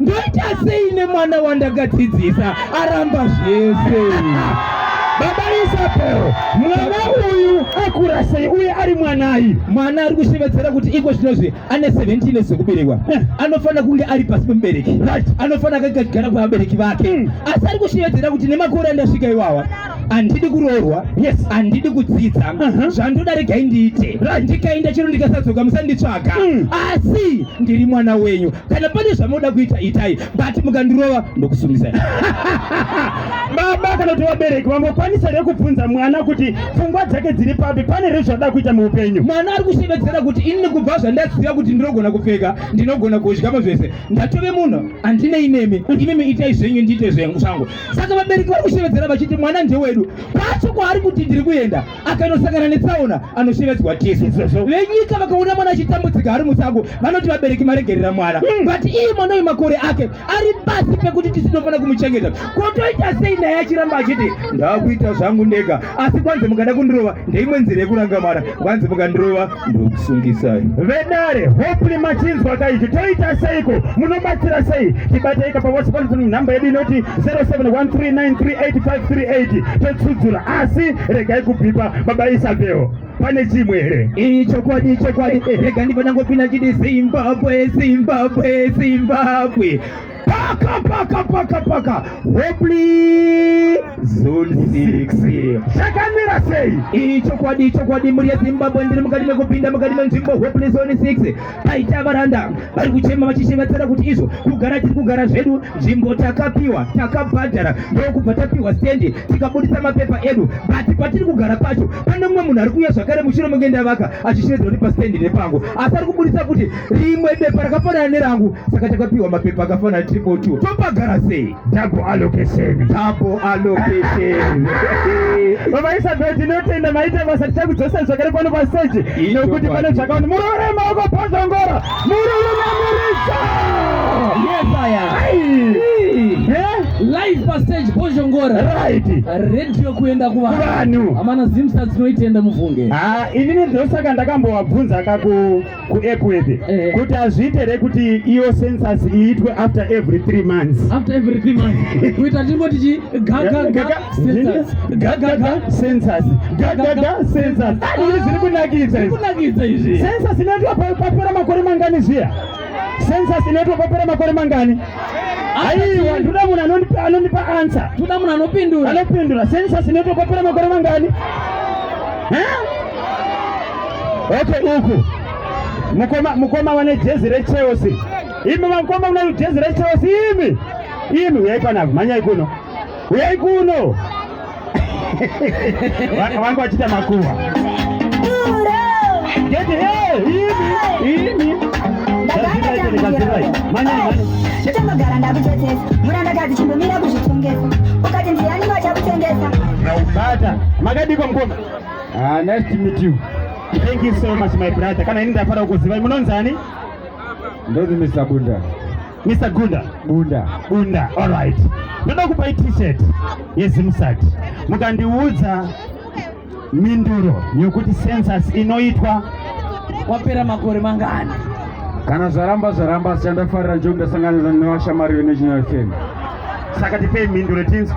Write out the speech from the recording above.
ndoita sei nemwana wandakadzidzisa aramba zvese baba isabel mwana uyu akura sei uye ari mwanai mwana ari kushevedzera kuti iko zvinozvi ane 17 years zvekuberekwa eh. anofanira kunge ari pasi pemubereki anofanira kagara kwevabereki vake hmm. asi ari kushevedzera kuti nemakore andasvika iwawa handidi kuroorwa yes handidi kudzidza uh-huh. zvandoda regai ndiite ndikaenda chero ndikasadzoka musanditsvaga hmm. asi ndiri mwana wenyu kana pane zvamoda kuita itai but mukandirova ndokusungisai baba kana kuti vabereki vangokwanisa here kubvunza mwana kuti pfungwa dzake dziri papi pane here zvada kuita muupenyu mwana ari kushevedzera kuti ini kubva zvandaziva kuti ndinogona kupfeka ndinogona kudyamo zvese ndatove munhu handinei nemi imimi itai zvenyu ndiite zvangu saka vabereki vari kushevedzera vachiti mwana ndewedu kwacho kwaari kuti ndiri kuenda akanosangana netsaona anoshevedzwa tisu venyika vakaona mwana achitambudzika ari musango vanoti vabereki maregerera mwana hmm. but iye mwana uyu makore ake ari pasi pekuti tisu tinofanira kumuchengeta kotoita sei naye achiramba achiti ndakuita zvangu ndega asi kwanzi mukada kundirova ndeimwe nzira yekuranga mwana kwanzi mukandirova ndokusungisai vedare hopefully machinzwa kaizvi toita seiko munobatsira sei tibatei kapa whatsapp nhamba yedu inoti 0713938538 totsudzura asi regai kubvipa baba isabel pane chimwe here iyi chokwadi ichokwadi rega ndibva ndangopinda chiti zimbabwe zimbabwe zimbabwe Paka paka paka paka. Hopefully zone 6. Chakamira sei? Icho kwadi icho kwadi muri ya Zimbabwe ndiri mukati mekupinda mukati menzvimbo hopefully zone 6. Paita varanda vari kuchema vachishevedzera kuti izvo kugara tiri kugara zvedu nzvimbo takapiwa takabhadhara ndokubva tapiwa stendi tikabudisa mapepa edu but patiri kugara pacho pane mumwe munhu ari kuuya zvakare mushure menge ndavaka achishevedzera kuti pastendi nepangu asi ari kubudisa kuti rimwe bepa rakafanana nerangu saka takapiwa mapepa akafanana triple two topagara sei double allocation double allocation vavaisa bhedhi tinotenda maita basa tichakudzosa zvakare pano paseji nokuti pane zvakaona muroore maoko pozongora murume mamuridza yesaya live pastage bozhongora right radio kuenda kuvanhu amana zimsa dzinoitenda mufunge ah inini ndosaka ndakambowabvunza kaku kuEpworth eh. kuti azviite here kuti iyo census iitwe after every three months after every three months kuita timbo tichi gagaga census gagaga census gagaga census izvi zviri kunakidza izvi kunakidza izvi census inoitwa papera makore mangani zviya census inoitwa papera makore mangani aiwa ndoda munhu anondipa anondipa answer ndoda munhu anopindura anopindura census inoitwa papera makore mangani huh? Wacho uku mukoma mukoma wane jezi reChelsea. Imi mukoma mune jezi reChelsea imi. Imi uyai panapa manyai kuno. Uyai kuno. Wangu wachita makuwa. Get here. Imi. Imi. Chamagara ndakutetesa. Muranda kazi chimbomira kuzvitongesa. Ukati ndiani wachakutengesa. Bata. Makadiko mkoma. Ah, nice to meet you. Thank you so much my brother. Kana ini ndafara kukuziva. Munonzi ani? Ndonzi Mr. Bunda. Mr. Gunda. Bunda. Bunda. All right. Ndoda kupai t-shirt yeZimsat. Mukandiudza minduro yokuti census inoitwa wapera makore mangani? Kana zvaramba zvaramba asi chandafarira njokuti ndasanganisa nevashamari veNational FM. Saka tipei minduro tinzwe.